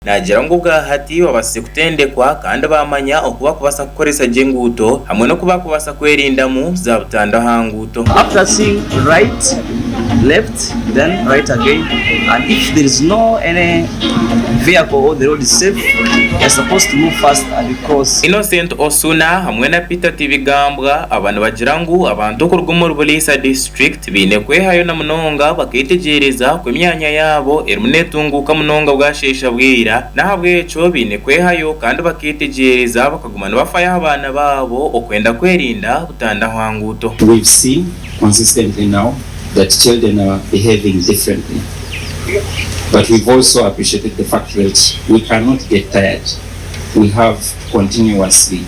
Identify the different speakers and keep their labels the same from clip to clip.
Speaker 1: Naagira ngu bwahati babaasize kutendekwa kandi baamanya oku bakubaasa kukoresa gye enguuto hamwe n'oku bakubaasa kwerindamu za butandwa aha nguuto. After seeing
Speaker 2: right, left then right again and if there is no any vehicle or the road is safe you are supposed to move fast and you cross. Innocent Osuna
Speaker 1: hamwe na Peter Tibigambwa aba nibagira ngu abantu okuruga omuri Buliisa district, Tibaine kwehayo na munonga bakeetegyereza ku emyanya yaabo erimu neetunguuka munonga bwasheesha bwira. N'ahabw'ekyo baine kwehayo kandi bakeetegyereza bakaguma nibafayo aha baana baabo okwenda kwerinda butanda aha nguuto. We've seen
Speaker 3: consistently now that children are behaving differently but we've also appreciated the fact that we cannot get tired, we have to continuously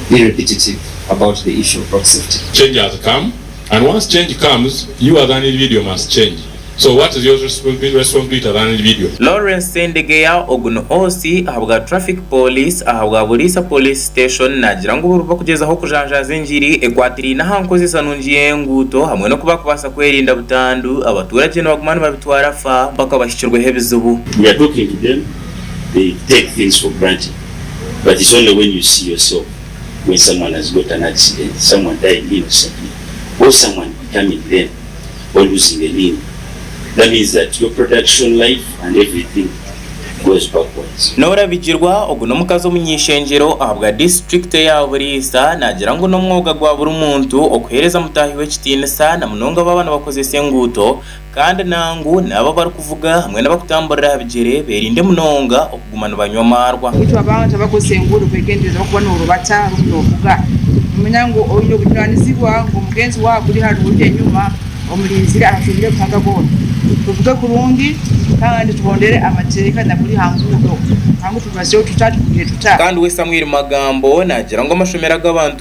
Speaker 3: be repetitive about the issue of road safety. Change has come
Speaker 4: and once change comes you are than video must change so what is yours responsibility other than video. Lawrence Sendegeya
Speaker 1: ogu ni OC ahabwa Traffic Police ahabwa Buliisa Police Station naagira ngu buri barikugyezaho kujanjaaza engiri ekwatiraine aha nkozesa nungi y'enguuto hamwe n'oku barikubaasa kwerinda butandu, abatuuragye nibaguma nibabitwara fa mpaka bahikirweho ebizibu. We are talking to them
Speaker 5: they take things for granted but it's only when you see yourself. When someone has got an accident, someone died innocently or someone determined then or losing a limb, that means that your production life and everything goes backwards. Norabigirwa,
Speaker 1: Ogu n'omukazi omuny'eishengyero ahabwa disiturikite ya Buriisa, naagira ngu n'omwoga gwa buri muntu okuheereza mutaahi we ekitiinisa na munonga baaba nibakozesa enguuto. Kandi nangu n'abo abarikuvuga hamwe n'abakutamburira aha bigyere beerinde munonga okuguma nibanywa amaarwa. Beitu abo abantu abakozesa
Speaker 6: enguuto kwegendereza orikuba noorubata orimu noovuga, nomanya ngu oine obujunanizibwa ngu mugyenzi waawe akuri haruguru enyuma omurinzire ahashuumire Ruhanga goona. Tuvuge kurungi kandi tugondere amateeka naguri ha nguuto, nangwa tubazeho tuta, tugumire tuta. Kandi we Samuel
Speaker 1: Magambo naagira ngu amashomero agu abantu.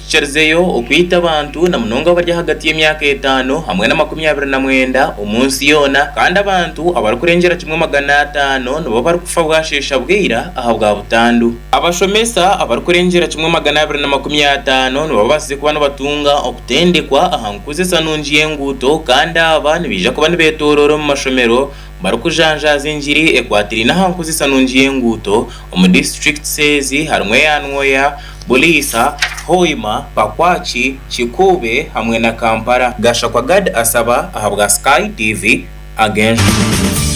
Speaker 1: Tucarizeyo okwita abantu na munonga abari ahagati y'emyaka etaano hamwe na makumi abiri na mwenda omu nsi yoona kandi abantu abarikurengyera kimwe magana ataano nibo barikufa bwasheesha bwira ahabwa butandu. Abashomesa abarikurengyera kimwe magana abiri na makumi ataano nibo babaasize kuba nibatunga okutendekwa aha nkuzesanungi y'enguuto kandi aba nibaija kuba nibetoroora omu mashomero Barikujanjaaza engiri ekwatiraine aha nkozesa nungi y'enguuto omu disiturikiti ezi harimu eya Nwoya, Buliisa, Hoima, Pakwach, Kikuube hamwe na Kampala. Gashakwa Gad asaba ahabwa Sky TV ag'enjuma.